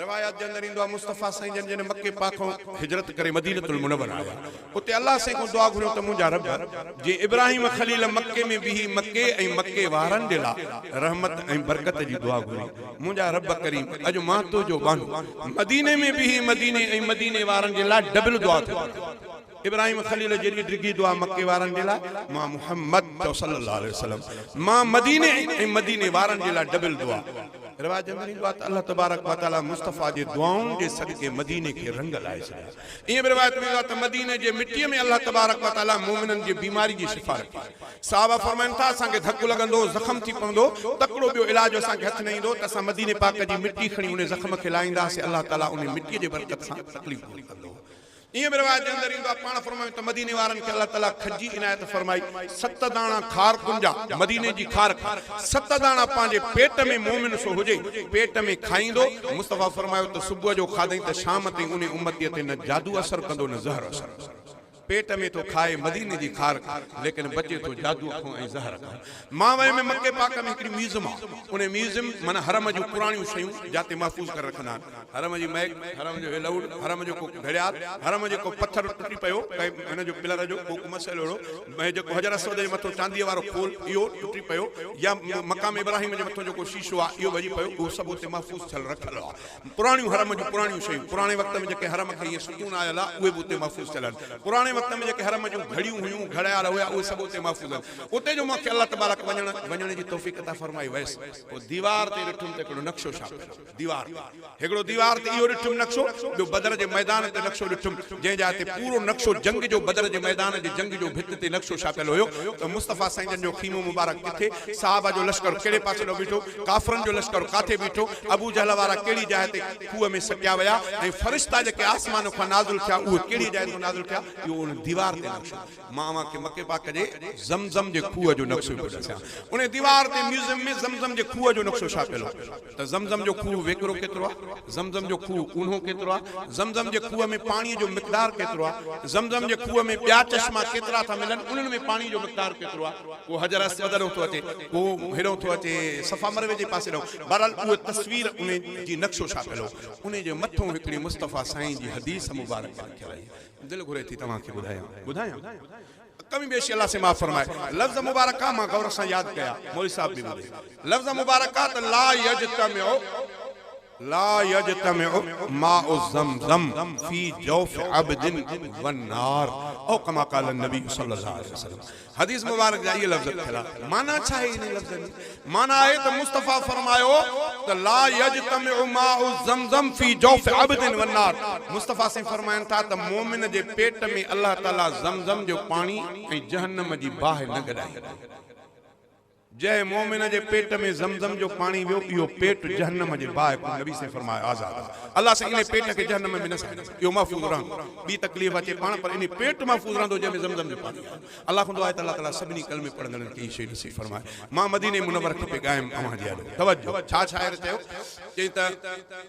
روايات جي اندر ايندو آهي مصطفيٰ سائين جن جڏهن مڪي پاڪ کان هجرت ڪري مدينة المنورة آيا اتي الله سائين کان دعا گهريون ته منهنجا رب جئين ابراهيم خليل مڪي ۾ بيهي مڪي ۽ مڪي وارن جي لاء رحمت ۽ برڪت جي دعا گهري منهنجا رب ڪريم اڄ مان تنهنجو ٻانهو مديني ۾ بيهي مديني ۽ مديني وارن جي لاء ڊبل دعا ٿو گهريان. ابراهيم خليل جيڏي ڊگهي دعا مڪي وارن جي لاء مان محمد چئو صلي الله عليه وسلم مان مديني ۽ مديني وارن جي لاء ڊبل دعا رواج اندر ايندو آهي ته الله تبارڪ وتعالي مصطفيٰ جي دعائن جي صدقي مديني کي رنگ لائي ڇڏيا ائين به روايت ۾ ايندو آهي ته مديني جي مٽي ۾ الله تبارڪ وتعالي مومنن جي بيماري جي شفا رکي صحابه فرمائن ٿا اسان کي ڌڪ لڳندو زخم ٿي پوندو تڪڙو ٻيو علاج اسان کي هٿ نه ايندو ته اسان مديني پاڪ جي مٽي کڻي انهي زخم کي لائيندا سي الله تعالي انهي مٽي جي برڪت سان تڪليف دور ڪندو ائين به روايت جي اندر ايندو آهي، پاڻ فرمايو ته مديني وارن کي الله تعاليٰ کجي عنايت فرمائي، ست داڻا کارڪن جا، مديني جي کارڪ، ست داڻا پنهنجي پيٽ ۾ مؤمن سو هجي، پيٽ ۾ کائيندو، مصطفيٰ فرمايو ته صبح جو کاڌئين ته شام تائين انهي امتيء تي نه جادو اثر ڪندو نه زهر اثر، پيٽ ۾ ٿو کائي مديني جي کارڪ، ليڪن بچي ٿو جادوء کان ۽ زهر کان. مان ويم ۽ مڪي پاڪ ۾ هڪڙي ميوزم آ انهي ميوزم معنيٰ حرم جون پراڻيون شيون جاتي محفوظ ڪري رکندا آهن حرم جي مئڪ حرم جو هي لئوڙ حرم جو ڪو گهڙيال حرم جي ڪو پٿر ٽٽي پيو ڪنهن هن جو پلر جو ڪو مسئلو اهڙو ۽ جيڪو حجر اسود جي مٿو چانديء وارو خول اهو ٽٽي پيو يا مقام ابراهيم جي مٿو جيڪو شيشو آ اهو ڀڄي پيو اهو سڀ اتي محفوظ ٿيل رکيل آ پراڻيون حرم جون پراڻيون شيون، پراڻي وقت ۾ جيڪي حرم کي ائين ستون آيل آ، اهي به اتي محفوظ ٿيل آهن. پراڻي وقت ۾ جيڪي حرم جون گهڙيون هيون، گهڙيال هيا، اهي سڀ اتي محفوظ آهن. اتي جو مونکي الله تبارڪ وڃڻ وڃڻ جي توفيق عطا فرمائي ويس، پوء ديوار تي ڏٺم ته هڪڙو نقشو ڇاپيل هو. ديوار تي هڪڙو ديوار تي اهو ڏٺم نقشو، ٻيو بدر جي ميدان تي نقشو ڏٺم، جنهن جاء تي پورو نقشو جنگ جو بدر جي ميدان جي جنگ جو ڀت تي نقشو ڇاپيل هيو ته مصطفيٰ سائين جن جو خيمو مبارڪ ڪٿي، صحابه جو لشڪر ڪهڙي پاسي ڏانهن بيٺو، ڪافرن جو لشڪر ڪاٿي بيٺو، ابو جهل وارا ڪهڙي جاء تي کوهه ۾ سٽيا ويا ۽ فرشتا جيڪي آسمان کان نازل ٿيا اهي ڪهڙيء جاء تان نازل ٿيا، اهو ان ديوار تي نقشو آهي. مان اوهان کي مڪي پاڪ جي زم زم جي کوهه جو نقشو پيو ڏسيان. ان ديوار تي ميوزيم ۾ زم زم جي کوهه جو نقشو ڇاپيل هو ته زم زم جو کوهه ويڪرو ڪيترو آهي، زم زم جو کوهه اونهو ڪيترو آهي، زم زم جي کوهه ۾ پاڻيء جو مقدار ڪيترو آهي، زم زم جي کوهه ۾ ٻيا چشما ڪيترا ٿا ملن، انهن ۾ پاڻيء جو مقدار ڪيترو آهي. پوء حجر اسود ڏانهن ٿو اچي. ڪو هيڏهون ٿو اچي صفا مروي جي پاسي ڏانهن. بهرحال اهو تصوير انهي جي نقشو ڇاپيل هو. انهي جي مٿون هڪڙي مصطفيٰ سائين جي حديث مبارڪه لکيل هئي. دل گهري ٿي توهان کي ٻڌايان. ٻڌايان؟ ڪمي بيشي الله سين معاف فرمائي. لفظ مبارڪه مان غور سان ياد ڪيا. مولوي صاحب به ٻڌي. لفظ مبارڪه ته لا يجتمع. لا يجتمع ماء زمزم في جوف عبد والنار او ڪما قال النبي صلي الله عليه وسلم حديث مبارڪ جا اهي لفظ ٿيا معنيٰ ڇا آهي انهن لفظن جي معنيٰ آهي ته مصطفيٰ فرمايو ته لا يجتمع ماء زمزم في جوف عبد والنار مصطفيٰ سائين فرمائن ٿا ته مؤمن جي پيٽ ۾ الله تعالي زمزم جو پاڻي ۽ جهنم جي باهه نه گڏائيندو جنهن مؤمن جي پيٽ ۾ زمزم جو پاڻي ويو اهو پيٽ جهنم جي باهه کان نبي صلي فرمايو آزاد آهي الله سائين انهي پيٽ کي جهنم ۾ نه ساڙيندو اهو محفوظ رهندو ٻي تڪليف اچي پاڻ پر انهي پيٽ محفوظ رهندو جنهن ۾ زمزم جو پاڻي آهي الله کان دعا آهي ته الله تعالي سڀني ڪلمي پڙهندڙن کي هي شيء نصيب فرمائي مان مديني منور کپي ڳايم اوهان جي اڏو توجه ڇا شاعر چيو چيائين ته.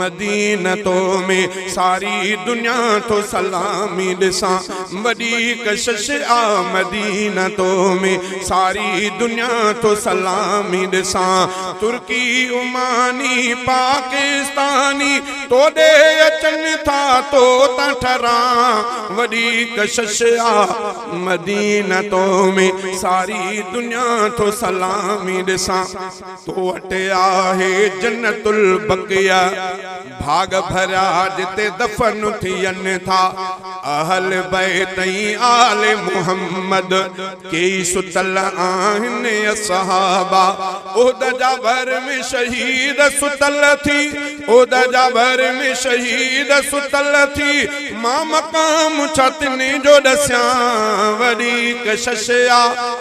مدينه تو ۾ ساري دنيا ٿو سلامي ڏسان وڏي ڪشش آ مدينه تو ۾ ساري دنيا ٿو سلامي ڏسان ترڪي عماني پاڪستاني توڏي اچن ٿا تو تان ٺران وڏي ڪشش آ مدينه تو ۾ ساري دنيا ٿو سلامي ڏسان تو وٽ آهي جنت البقيه ڀاڳ ڀريا جتي دفن ٿين ٿا اهل بيت ۽ آل محمد ڪيئي ستل آهن اصحابه احد جا ڀر ۾ شهيد ستل ٿي احد جا ڀر ۾ شهيد ستل ٿي مان مقام ڇا تنهن جو ڏسيان وڏي ڪشش آ.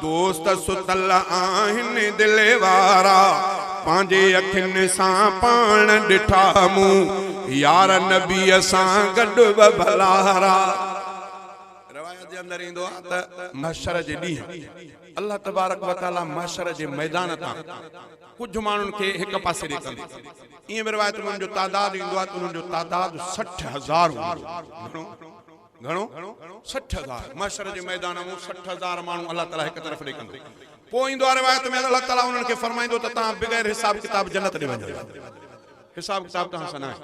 دوست ستل آهن دل وارا. پنهنجي اکين سان پاڻ ڏٺا مون. يار نبيء سان گڏ ٻه ڀلارا. روايت جي اندر ايندو آهي ته محشر جي ڏينهن الله تبارڪ و تعالي محشر جي ميدان تان ڪجهه ماڻهن کي هڪ پاسي ڏي ڪندو. ايئن به روايت ۾ انهن جو تعداد ايندو آهي ته انهن جو تعداد سٺ هزار هوندو. گهڻو. گهڻو؟ سٺ هزار. محشر جي ميدان مون سٺ هزار ماڻهو الله تعاليٰ هڪ طرف ڏي ڪندو. پوء ايندو آهي روايت ۾ الله تعاليٰ انهن کي فرمائيندو ته توهان بغير حساب ڪتاب جنت ڏي وڃو. حساب ڪتاب توهان سان ناهي.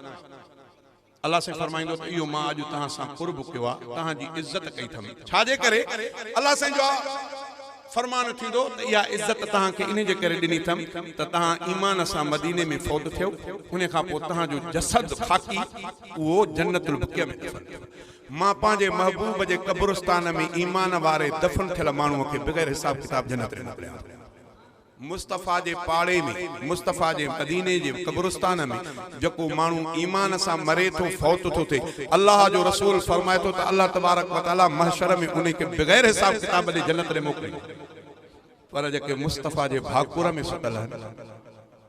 الله سائين فرمائيندو ته اهو مان اڄ توهان سان قرب ڪيو آهي، توهان جي عزت ڪئي اٿم. ڇا جي ڪري؟ الله سائين جو فرمان ٿيندو ته اها عزت توهان کي انهي جي ڪري ڏني اٿم ته توهان ايمان سان مديني ۾ فوت ٿيو، انهي کان پوء توهان جو جسد خاڪي اهو جنت البقيع ۾ دفن ٿيو. مان پنهنجي محبوب جي قبرستان ۾ ايمان واري دفن ٿيل ماڻهوء کي بغير حساب ڪتاب جنت ۾ موڪليان ٿو. مصطفيٰ جي پاڙي ۾، مصطفيٰ جي مديني جي قبرستان ۾، جيڪو ماڻهو ايمان سان مري ٿو، فوت ٿو ٿئي، الله جو رسول فرمائي ٿو ته الله تبارڪ وتعاليٰ محشر ۾ انهي کي بغير حساب ڪتاب جي جنت ڏي موڪليندو. پر جيڪي مصطفيٰ جي ڀاڪر ۾ سٽل آهن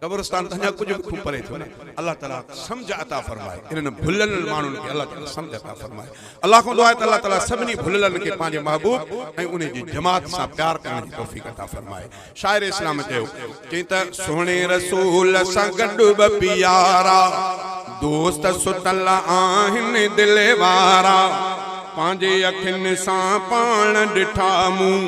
قبرستان ته اڃا ڪجهه به خوب پري ٿيو نه الله تعالي سمجهه عطا فرمائي انهن ڀليل ماڻهن کي الله تعالي سمجهه عطا فرمائي الله کان دعا آهي ته الله تعالي سڀني ڀليلن کي پنهنجي محبوب ۽ انهي جي جماعت سان پيار ڪرڻ جي توفيق عطا فرمائي شاعر اسلام چيو چئين ته سهڻي رسول سان گڏ ٻه پيارا دوست ستل آهن دل وارا پنهنجي اکين سان پاڻ ڏٺا مون